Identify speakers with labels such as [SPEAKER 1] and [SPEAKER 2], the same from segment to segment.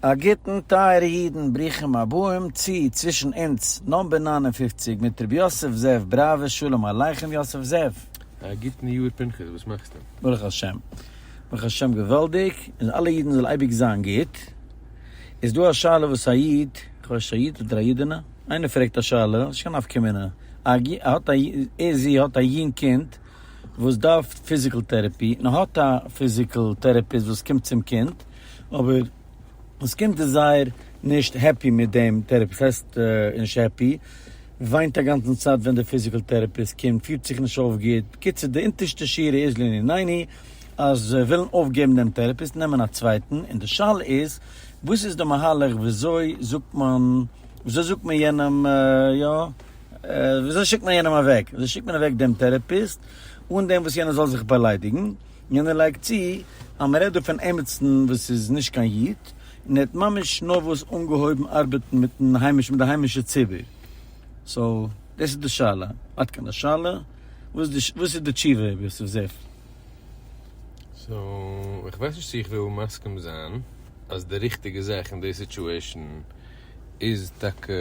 [SPEAKER 1] א גוטן טייערע אידן, ברוכים הבאים צו צווישן אונז נאמבער נײַן און פֿופֿציק מיט ר' יוסף זאב בראווער, שלום עליכם יוסף זאב. א גוטן יאר
[SPEAKER 2] פנחס, וואס מאכסטו? ברוך השם,
[SPEAKER 1] ברוך השם געוואלדיג, און אלע אידן זאל אייביג זיין גוט, איז דא א שאלה וואס א איד, כ'ווייס נישט א איד אדער א אידענע, איינער פרעגט א שאלה, נישט קיין נפקא מינה, האט א ער זי האט א יונג קינד וואס דארף פיזיקל טערעפי, און האט א פיזיקל טערעפיסט וואס קומט צום קינד, אבער עס קומט איז זייער נישט העפי מיט דעם טערעפיסט, ס'הייסט נישט העפי, וויינט אגאנצן צייט ווען די פיזיקעל טערעפיסט קומט, פירט זיך נישט אויף גוט, בקיצור די אונטערשטע שורה איז לעניני ענין אז זיי ווילן אויפגעבן דעם טערעפיסט און נעמען א צווייטן, און די שאלה איז וואס איז די מהלך וויאזוי זאגט מען וויאזוי זאגט מען יענעם יא וויאזוי שיקט מען יענעם אוועק, וויאזוי שיקט מען אוועק דעם טערעפיסט אן דעם וואס יענער זאל זיך באליידיגן. יענער לייגט צו אז מ'רעדט דא פון עמיצן וואס איז נישט קיין איד, און ער האט ממש נארוואס אנגעהויבן ארבעטן מיטן היימיש מיט די היימישע ציבור. סאו, דאס איז די שאלה. עד כאן השאלה. וואס איז די וואס איז די תשובה איבער סוף ספר? סאו,
[SPEAKER 2] איך ווייס נישט צו איך וויל מסכים זיין אז די ריכטיגע זאך אין די סיטואשען איז טאקע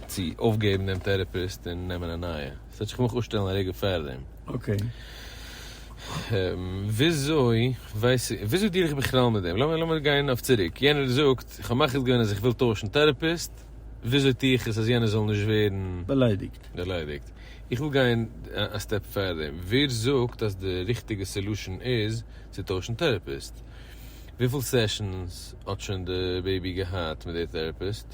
[SPEAKER 2] צו אויפגעבן דעם טערעפיסט און נעמען א נייע. ס'וועט זיך כמובן אויסשטעלן א רגע פארדעם.
[SPEAKER 1] וויאזוי
[SPEAKER 2] ווייס איך, וויאזוי דיעל איך בכלל מיט דעם, לאמיר גיין אויף צוריק, יענער זאגט איך האב מחליט געווען אז איך וויל טוישן טעראפיסט, וויאזוי טו איך עס אז יענער זאל נישט ווערן באליידיגט,
[SPEAKER 1] איך
[SPEAKER 2] וויל גיין א סטעפ פארדעם, ווער זאגט אז די ריכטיגע סעלושען איז צו טוישן טעראפיסט? וויפיל סעשאנס האט שוין די בעיבי געהאט מיט די טעראפיסט?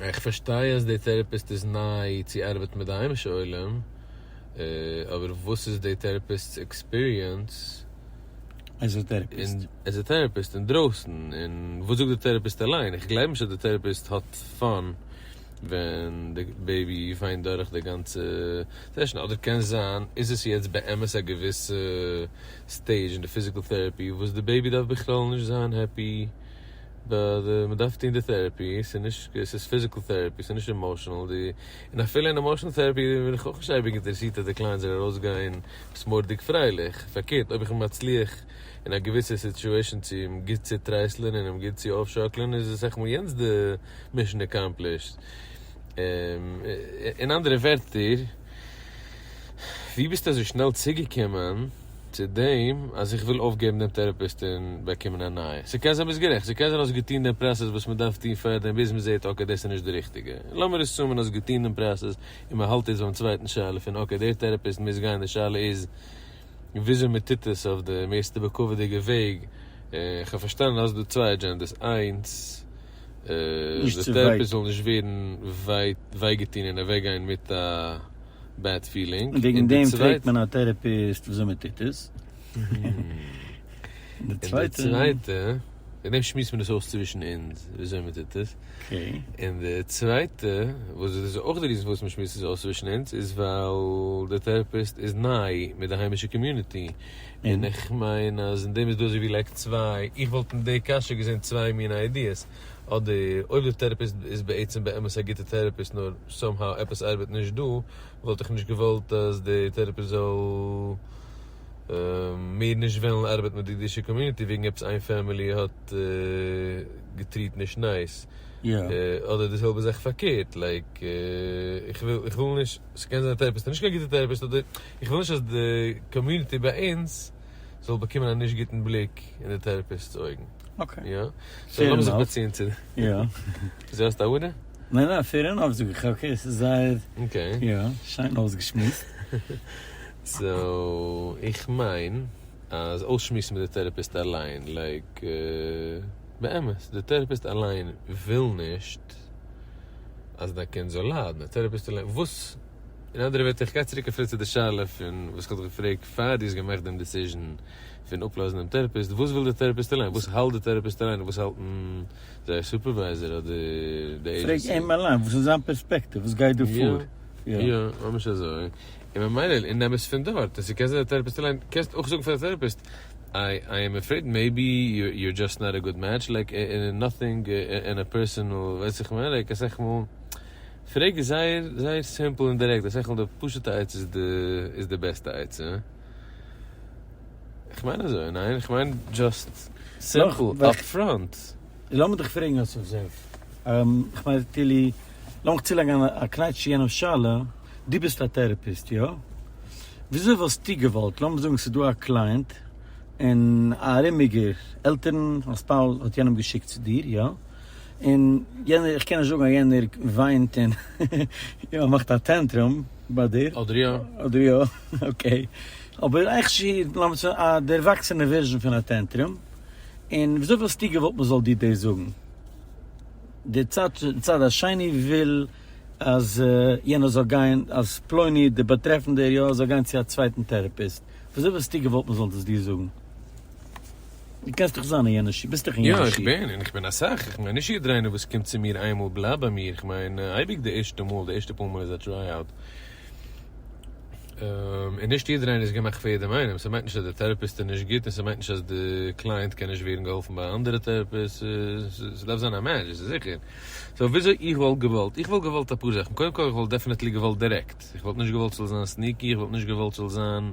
[SPEAKER 2] איך פארשטיי אז די טערעפיסט איז ניי צו ארבעטן מיט די היימישע עולם, אבער וואס איז די טערעפיסט'ס עקספיריענס
[SPEAKER 1] עז א טערעפיסט
[SPEAKER 2] אינדרויסן, און וואס זאגט די טערעפיסט אליין? איך גלייב נישט אז די טערעפיסט האט פאן ווען די בעיבי וויינט דורך די גאנצע סעשאן, אדער קען זיין איז עס יעצט באמת א געוויסע סטעידזש אין די פיזיקעל טערעפי וואס די בעיבי דארף בכלל נישט זיין העפי. ב ד מ'דארף טון די טערעפי, ס'איז נישט ק, ס'איז פיזיקל טערעפי, ס'איז נישט עמאשענעל, די, און אפילו אין עמאשענעל טערעפי בין איך אויך נישט אייביג אינטערעסירט אז די קלייענט זאל ארויסגיין פסמורדיג פרייליך, פארקערט אויב איך מצליח אין א געוויסע סיטועשען צו אים גוט צוטרייסלען און אים גוט צו אויפשאקלען איז אסאך מאל יענץ די מישען אקאמפלישט. אין אנדערע ווערטער, ווי ביסטו אזוי שנעל צוגעקומען? צו דעם אז איך וויל אויפגעבן דעם טעראפיסט און באקומען א נייע. ס'קען זיין ביסט גערעכט, ס'קען זיין האסט געטון דעם פראסעס וואס מ'דארף טון פארדעם ביז מ'זעט אקעי דאס איז נישט די ריכטיגע. לאמיר עסומען האסט געטון דעם פראסעס און מ'האלט איצט ביים צווייטן שאלה פון אקעי דער טעראפיסט מוז גיין די שאלה איז וויאזוי מ'טוט עס אויף די מערסטע בכבוד'יגע וועג. כ'האב פארשטאנען אז האסט דא צוויי אדזשענדעס, איינס דער טעראפיסט זאל נישט ווערן וויי געטון און אוועקגיין מיט א. בעד פילינג,
[SPEAKER 1] און די צווייטע וועגן דעם שמועסט מען עס אויס צווישן אונז וויאזוי מען טוט עס, און די צווייטע וואס דאס איז אויך די ריזן פארוואס מען שמועסט עס אויס צווישן אונז איז ווייל די טעראפיסט איז ניי מיט די היימישע קאמיוניטי, און איך מיין אז אין דעם איז דא אזוי ווי לייק צוויי, איך וואלט אין די קשיא געזען צוויי מיני איידיעס, אדער אויב די טערעפיסט איז בעצם באמת א גוטע טערעפיסט נאר סאום האו עפעס ארבעט נישט דא, וואלט איך נישט געוואלט אז די טערעפיסט זאל מער נישט וועלן ארבעטן מיט די אידישע קאמיוניטי וועגן עפעס איין פעמילי האט געטריעט נישט נייס, אדער די זעלבע זאך
[SPEAKER 2] פארקערט, לייק איך וויל נישט, ס'קען זיין די טערעפיסט איז נישט קיין גוטע טערעפיסט אדער איך וויל נישט אז די קאמיוניטי ביי אונז. זאל באקומען א נישט גוטן בליק אין די טערעפיסט'ס אויגן. אקעי. יא. סאו
[SPEAKER 1] לאמיר
[SPEAKER 2] זיך באציען צו די. יא.
[SPEAKER 1] זי האסט א אודה?
[SPEAKER 2] ניין ניין פעיר ענאף
[SPEAKER 1] זאג איך אקעי ס'איז זייער. אקעי. יא שיין אויסגעשמועסט. סאו
[SPEAKER 2] איך מיין אז אויסשמועסן מיט די טערעפיסט אליין לייק באמת די טערעפיסט אליין וויל נישט אז דיין קינד זאל ליידן די טערעפיסט אליין וואס אין אנדערע ווערטער, איך גיי צוריק אפילו צו די שאלה פון וואס כ'האב דיך געפרעגט פאר דו האסט געמאכט דעם דיסיזשען פון אפלאזן דעם טעראפיסט, וואס וויל די טעראפיסט אליין? וואס האלט די טעראפיסט אליין? און וואס האלטן זייער סופערווייזער אדער די עידזשענסי?
[SPEAKER 1] פרעג אים אליין וואס
[SPEAKER 2] איז זיין פערספעקטיוו, וואס גייט דא פאר? יא, יא, ממש אזוי. און ממילא און נעם עס פון דארט. און ס'קען זיין די טעראפיסט אליין, קענסט אויך זאגן פאר די טעראפיסט, איי עם עפרעיד מעיבי יו אר דזשאסט נאט א גוד מעטש, לייק נאטינג און א פערסענאל, ווייסט וואס איך מיין? לייק אסאך מאל. פרעג איז זייער זייער סימפל און דירעקט, די שכל די פשוטע עצה איז די איז די בעסטע עצה. איך מיין אזוי, ניין? איך מיין דזשאסט סימפל, אפפראנט. לאמיר דיך
[SPEAKER 1] פרעגן אסף זאב. איך מיין טילי, לאמיך צולייגן א קנייטש צו יענעמ'ס שאלה, דו ביסט א טערעפיסט, יא? וויאזוי וואלסטו געוואלט, לאמיר זאגן ס'איז דא א קלייענט און א ארומיגער עלטערן, א ספאוז, האט יענעם געשיקט צו דיר, יא? און יענער, איך קען נישט זאגן אז יענער וויינט און יא מאכט א טענטרום ביי דיר. אדער יא. אדער יא,
[SPEAKER 2] אקעי.
[SPEAKER 1] אבער איך שיר, לאמיר זאגן א דערוואקסענע ווערזשען פון א טענטרום, און וויאזוי וואלסטו געוואלט מען זאל דיר דאס זאגן? דער צד, צד השני וויל אז יענער זאל גיין, אז פלוני דער באטרעפנדער יא זאל גיין צו א צווייטן טעראפיסט, וויאזוי וואלסטו געוואלט מען זאל דאס דיר זאגן? דו קענסט דאך זיין אין יענע שיך, ביסט דאך אין יענע שיך. יא איך בין, און איך בין
[SPEAKER 2] אסאך, איך מיין נישט יעדער איינער וואס קומט צו מיר איין מאל בלייבט ביי מיר, איך מיין אייביג די ערשטע מאל, די ערשטע פאר מאל איז א טריי אוט, און נישט יעדער איינער איז געמאכט פאר יעדעם איינעם, ס'מיינט נישט אז די טעראפיסט איז נישט גוט און ס'מיינט נישט אז די קלייענט קען נישט ווערן געהאלפן ביי א אנדערע טעראפיסט, ס'דארף זיין א מעטש, דאס איז זיכער. סאו וויאזוי איך וואלט געוואלט, איך וואלט געוואלט אפאר זאכן, קודם כל איך וואלט דעפענעטלי געוואלט דירעקט, איך וואלט נישט געוואלט ס'זאל זיין סניקי, איך וואלט נישט געוואלט ס'זאל זיין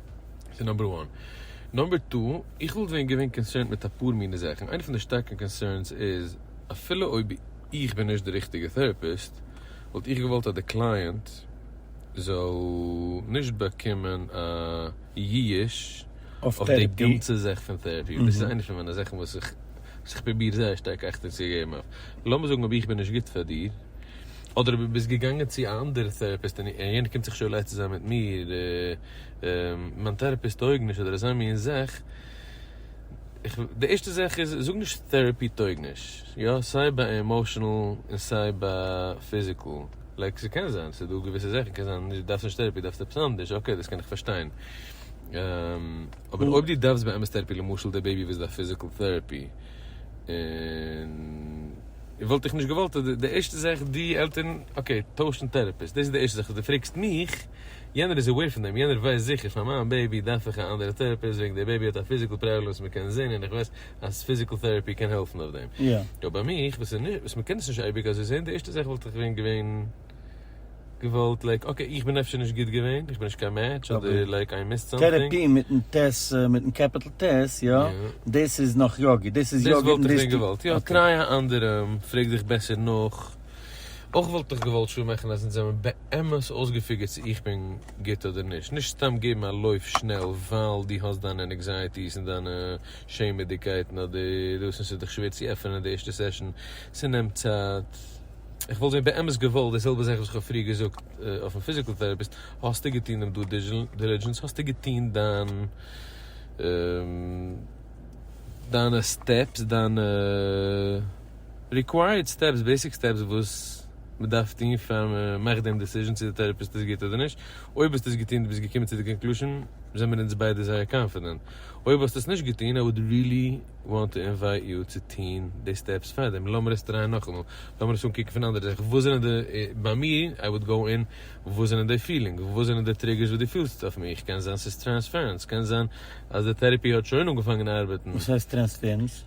[SPEAKER 2] ס'איז נאמבער וואן. נאמבער טו, איך וואלט ווען געווען קאנסערנד מיט אפאר מיני זאכן. איינע פון די שטארקע קאנסערנס איז, אפילו אויב איך בין נישט די ריכטיגע טעראפיסט, וואלט איך געוואלט אז די קלייענט זאל נישט באקומען א ייאוש אויף די גאנצע זאך פון טעראפי. דאס איז איינע פון מיינע זאכן וואס איך וואס איך פרוביר זייער שטארק אכטונג צו געבן אויף. לאמיר זאגן אויב איך בין נישט גוט פאר דיר, אדער אויב דו ביסט געגאנגען צו א אנדערע טעראפיסט און יענער קומט זיך שוין לייצן זיין מיט מיר, מיין טערעפיסט טויג נישט אדער אזוי מין זאך, איך, די ערשטע זאך איז זאג נישט טערעפי טויג נישט, יא סיי ביי עמאושענעל און סיי ביי פיזיקעל, לייק ס'קען זיין ס'איז דא געוויסע זאכן קען זיין נישט דארפסט נישט טערעפי דארפסט עפעס אנדערש אקעי דאס קען איך פארשטיין, אבער אויב דו דארפסט באמת טערעפי למשל די בעיבי וויזיט א פיזיקעל טערעפי און וואלט איך נישט געוואלט אז די ערשטע זאך די עלטערן אקעי טוישן טערעפיסט דאס איז די ערשטע זאך אז דו פרעגסט מיך. יענער איז עוועיר פון דעם, יענער ווייסט זיכער פאר מיין בעיבי דארף איך א אנדערע טערעפיסט וועגן די בעיבי האט א פיזיקל פראבלעם וואס מ'קען זעהן און איך ווייס אז פיזיקל טערעפי קען העלפן אויף דעם. אבער ביי מיך וואס וואס מ'קען עס נישט אייביג אזוי זעהן די ערשטע זאך וואלט איך ווען געווען געוואלט לייק אקעי איך בין אפשר נישט גוט געווען איך בין נישט קיין מעטש אדער לייק איי מיסד סאמטינג. טערעפי מיטן ט מיטן קעפיטל ט יא? דאס איז נאך יא גוט דאס איז יא גוט און דאס
[SPEAKER 1] טוט. דאס וואלט איך ווען געוואלט יא
[SPEAKER 2] טריי א אנדערעם פרעג זיך בעסער נאך. אויך וואלט איך געוואלט שא מאכן אז אונז זעמיר באמת אויסגעפיגערט צו איך בין גוט אדער נישט, נישט סתם געבן א לויף שנעל ווייל דו האסט דיינע ענעקזייעטיס און דיינע שעמעדיגקייטן אדער דאס און ס'איז דיך שווער צו עפענען די ערשטע סעשאן, ס'נעמט צייט. איך וואלט ווען באמת געוואלט די זעלבע זאך וואס איך האב פריער געזאגט אויפן פיזיקל טעראפיסט, האסטו געטון דעם דו דילידזשענס, האסטו געטון דיין דיינע סטעפס, דיינע. ריקווייערד סטעפס, בעיסיק סטעפס וואס מען דארף טון פאר מען מאכט דעם דעסיזשען צו די טעראפיסט איז גוט אדער נישט, אויב האסטו עס געטון און ביסט געקומען צו די קאנקלושען זעמיר אונז ביידע זייער קאנפידענט, אויב האסטו עס נישט געטון איי וואד רילי וואנט טו אינווייט יו צו טון די סטעפס פאר דעם, לאמיר עס טרייען נאכאמאל, לאמיר עס אנקוקן פון א אנדערע זיך, וואס זענען די, ביי מיר איי וואד גאו אין וואס זענען די פילינגס, וואס זענען די טריגערס וואס דו פילסט אויף מיך, קען זיין ס'איז טרענספערענס, קען זיין אז די טעראפי האט שוין אנגעפאנגען ארבעטן. וואס הייסט טרענספערענס?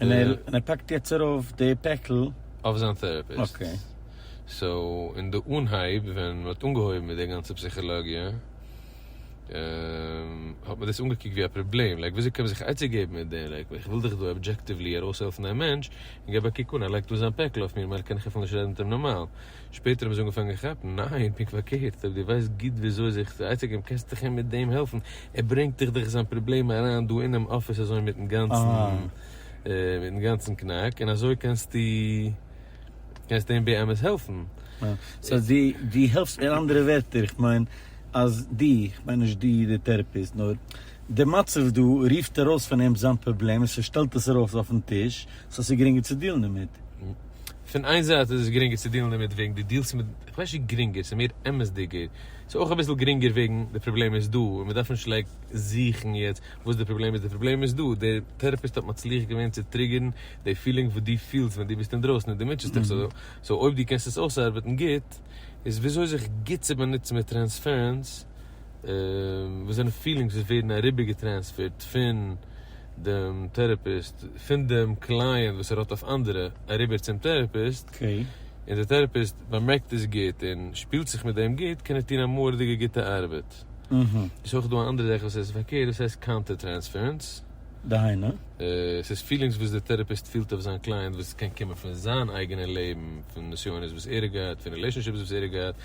[SPEAKER 2] און ער און ער פאקט יעצט
[SPEAKER 1] ארויף די פעקל. אויף זיין טערעפיסט.
[SPEAKER 2] אקעי.
[SPEAKER 1] סאו
[SPEAKER 2] אין די אנהייב ווען מען האט אנגעהויבן מיט די גאנצע פסיכאלאגיע האט מען דאס אנגעקוקט ווי א פראבלעם לייק וויאזוי קען מען זיך עצה געבן מיט דעם לייק איך וויל דאך דא אבדזשעקטיוולי ארויסהעלפן דעם מענטש און געב א קוק אן ער לייגט אן זיין פעקל אויף מיר ממילא קען איך אפילו נישט רעדן מיט אים נארמאל שפעטער האבן זיי אנגעפאנגען כאפן, ניין, פונקט פארקערט, אויב דו ווייסט גוט וויאזוי זיך צו עצה'געבן קענסטו דיך אים מיט דעם העלפן, ער ברענגט דיך דאך זיין פראבלעם אריין דא אינעם אפיס אזוי מיטן גאנצן מיטן גאנצן קנאק, און אזוי קענסטו קענסטו אים באמת העלפן. סאו דו
[SPEAKER 1] דו העלפסט מיר, אנדערע ווערטער איך מיין אז דו, איך מיין נישט דו דער טערעפיסט, נאר די מצב דא רופט ארויס פון אים זיין פראבלעם און ס'שטעלט עס ארויף אויפן טיש, סאו ס'איז גרינגער צו דיעלן דערמיט. פון איין
[SPEAKER 2] זייט איז עס גרינגער צו דילן דערמיט וועגן די דילסט מיט, איך ווייס נישט גרינגער, ס'איז מער אמת'דיגער, ס'איז אויך אביסל גרינגער וועגן די פראבלעם איז דא און מ'דארף נישט לייק זוכן יעצט וואס די פראבלעם איז, די פראבלעם איז דא, דער טעראפיסט האט מצליח געווען צו טריגערן די פילינג וואס דו פילסט ווען דו ביסט אינדרויסן און דו מוטשעסט דיך, סאו אויב דו קענסט עס אויסארבעטן גוט, איז וויאזוי זיך גוט צו באנוצן מיט טרענספערענס. וואס זענען פילינגס וואס ווערן אריבערגעטרענספערט פון דעם טעראפיסט, פון דעם קלייענט וואס ער האט אויף אנדערע, אריבער צום טעראפיסט, און דער
[SPEAKER 1] טעראפיסט
[SPEAKER 2] באמערקט עס גוט און שפילט זיך מיט דעם גוט, קען ער טון א מורא'דיגע גוטע ארבעט. ס'איז אויך דא א אנדערע זאך וואס איז פארקערט, דאס הייסט קאנטער טרענספערענס. דהיינו?
[SPEAKER 1] ס'איז פילינגס
[SPEAKER 2] וואס דער טעראפיסט פילט אויף זיין קלייענט וואס קען קומען פון זיין אייגענע לעבן, פון נסיונות וואס ער האט געהאט, פון רילעישאנשיפס וואס ער האט געהאט,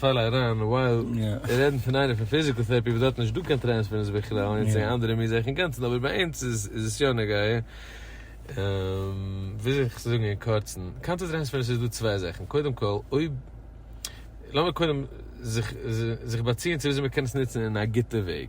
[SPEAKER 2] פאל אריין ווייל מיר רעדן פון איינער פון פיזיקל טערעפי וואס דארט איז נישט דא קיין טרענספערענס בכלל און יעצט זעהן אנדערע מיר זעך אינגאנצן אבער ביי אונז איז עס יא נוגע וויאזוי זאל איך עס זאגן אין קורצן קאנטער טרענספערענס איז דא צוויי זאכן קודם כל אויב לאמיר קודם זיך באציען צו וויאזוי מיר קענען עס נוצן אין א גוטע וועג.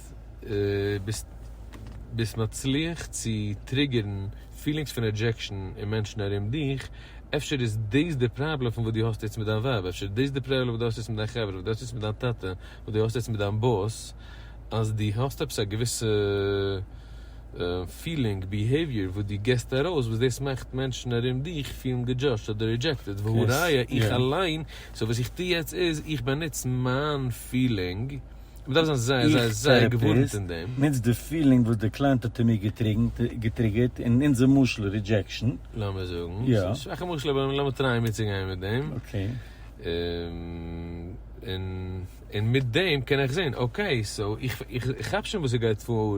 [SPEAKER 2] ביסט ביסט ביסט מצליח צו טריגערן פילינגס פון רעדזשעקשן אין מענטשן ארום דיך, אפשר איז דאס די פראבלעם פון וואס דו האסט יעצט מיט דיין ווייב, אפשר איז דאס די פראבלעם וואס דו האסט יעצט מיט דיין חברה, וואס דו האסט יעצט מיט דיין טאטע, וואס דו האסט יעצט מיט דיין באס, אז דו האסט עפעס א געוויסע פילינג, ביהעיוויער, וואס דו גיבסט ארויס, וואס דאס מאכט מענטשן ארום דיך פילן געדזשאדזשט אדער רידזשעקטעד, והא ראיה איך אליין, סאו וואס איך טו יעצט איז, איך באנוץ מיין פילינג, מען דארף זיין זייער זייער זייער געווארנט אין דעם. איך טעראפיסט נוץ די פילינג וואס
[SPEAKER 1] די קלייענט האט אין מיר געטריגערט אין אונזער משל רידזשעקשאן. לאמיר זאגן, ס'איז
[SPEAKER 2] א שוואכע משל אבער
[SPEAKER 1] לאמיר
[SPEAKER 2] טרייען מיטצוגיין מיט דעם. און מיט דעם קען איך זען אקעי סאו איך כאפ שוין וואס ס'גייט פאר.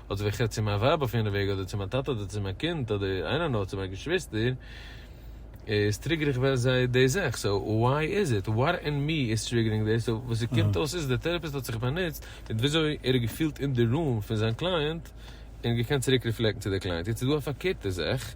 [SPEAKER 2] אדער ווער כ'רעדט צו מיין ווייב אויף יענע וועג אדער צו מיין טאטע אדער צו מיין קינד אדער איינער נאר צו מיין געשוויסטער איז טריגער איך ווער זיי דאס איך סא וואי איז איט וואט אין מי איז טריגערינג דעס סא וואס ס'קומט אויס איז דער טערעפיסט האט זיך באנוצט מיט וויאזוי ער האט געפילט אין די ראם פון זיין קלייענט און געקענט צוריק ריפלעקטן צו דער קלייענט יעצט איז דא א פארקערטע זאך.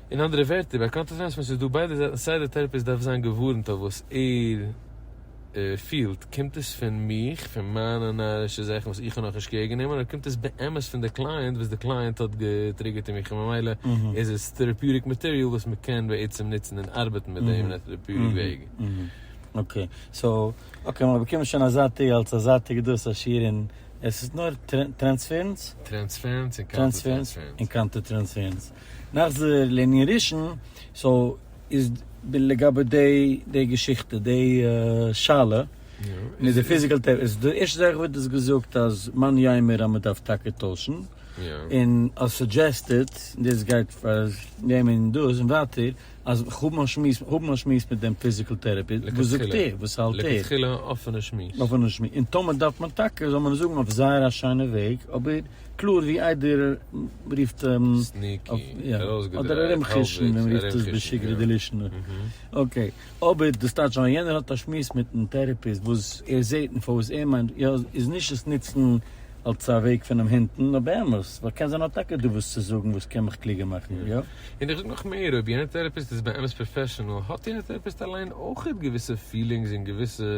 [SPEAKER 1] אין אנדערע
[SPEAKER 2] ווערטער, ביי קאנטערפענס ווען ס'איז דא ביידע זייטן סיי דער טעראפיסט דארף זיין געווארנט אויף וואס ער פילט, קומט עס פון מיך, פון מיינע נארישע זאכן וואס איך האב נאכנישט קעיר גענומען, אדער קומט עס באמת פון די קלייענט וואס די קלייענט האט געטריגערט אין מיך און ממילא איז עס טעראפיוטיק מאטעריאל וואס מען קען בעצם נוצן און ארבעטן מיט דעם אין א טעראפיוטיק וועג. אקעי, סאו אקעי מיר באקומען שוין א זייטיגע אלס א זייטיגע
[SPEAKER 1] דא סאו שיעור אין עס איז נאר טרענספערענס? טרענספערענס
[SPEAKER 2] און קאנטער טרענספערענס.
[SPEAKER 1] נחזור לענין ראשון, סאו איז לגבי די די געשיכטע די שאלה מיט די פיזיקעל טעראפי, איז די ערשטע זאך וואלט איך געזאגט אז מאן יימר אז מען דארף טאקע טוישן, און אז סודזשעסטעד, און דאס גייט פאר דעם און דאס און ווייטער, אז האבן א שמועס האבן א שמועס מיט דעם פיזיקעל טעראפי, וואס זאגט ער? וואס האלט ער? לכתחילה א אפענע
[SPEAKER 2] שמועס. אפענע שמועס, און טאמער
[SPEAKER 1] דארף מען טאקע זאל מען עס זאגן אויף זייער א שיינע וועג, אבער קלאר ווי איידער רופט אים סניקי,
[SPEAKER 2] אדער ארום
[SPEAKER 1] חושן ווי מ'רופט עס בשגרה דלישנא, אקעי, אבער דאס טייטש אז יענער האט א שמועס מיטן טעראפיסט וואס ער זעט און פאר וואס ער מיינט יא איז נישט עס נוצן אלס א וועג פונעם הינטן נאר באמת ווייל קען זיין ער האט טאקע דא וואס צו זאגן וואס קען מיך קלוגער מאכן יא. און איך זאג נאך מער
[SPEAKER 2] אויב יענער טעראפיסט איז באמת פראפעשענעל האט יענער טעראפיסט אליין אויכעט געוויסע פילינגס און געוויסע.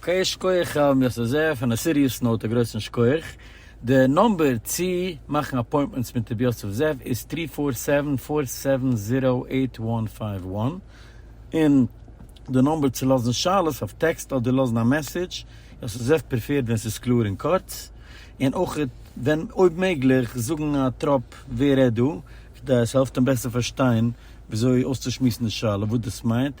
[SPEAKER 1] אקעי שקויעך הרב מיסטער זר פון א סיריעס נאוט א גרויסן שקויעך, די נאמבער צי מאכן אפוינטמענטס מיט רבי יוסף זאב איז טרי פאר סעווען פאר סעווען זירא עיט וואן פייוו וואן, און די נאמבער צי לאזן שאלות אויף טעקסט אדער לאזן א מעסעדזש, יוסף זאב פריפערט ווען ס'איז קלאר און קורץ, און אויך ווען אויב מעגליך זאגן א טראפ ווער רעדט דא, כדי עס העלפט אים בעסער פארשטיין וויאזוי אויסצושמועסן די שאלה וואס דאס מיינט,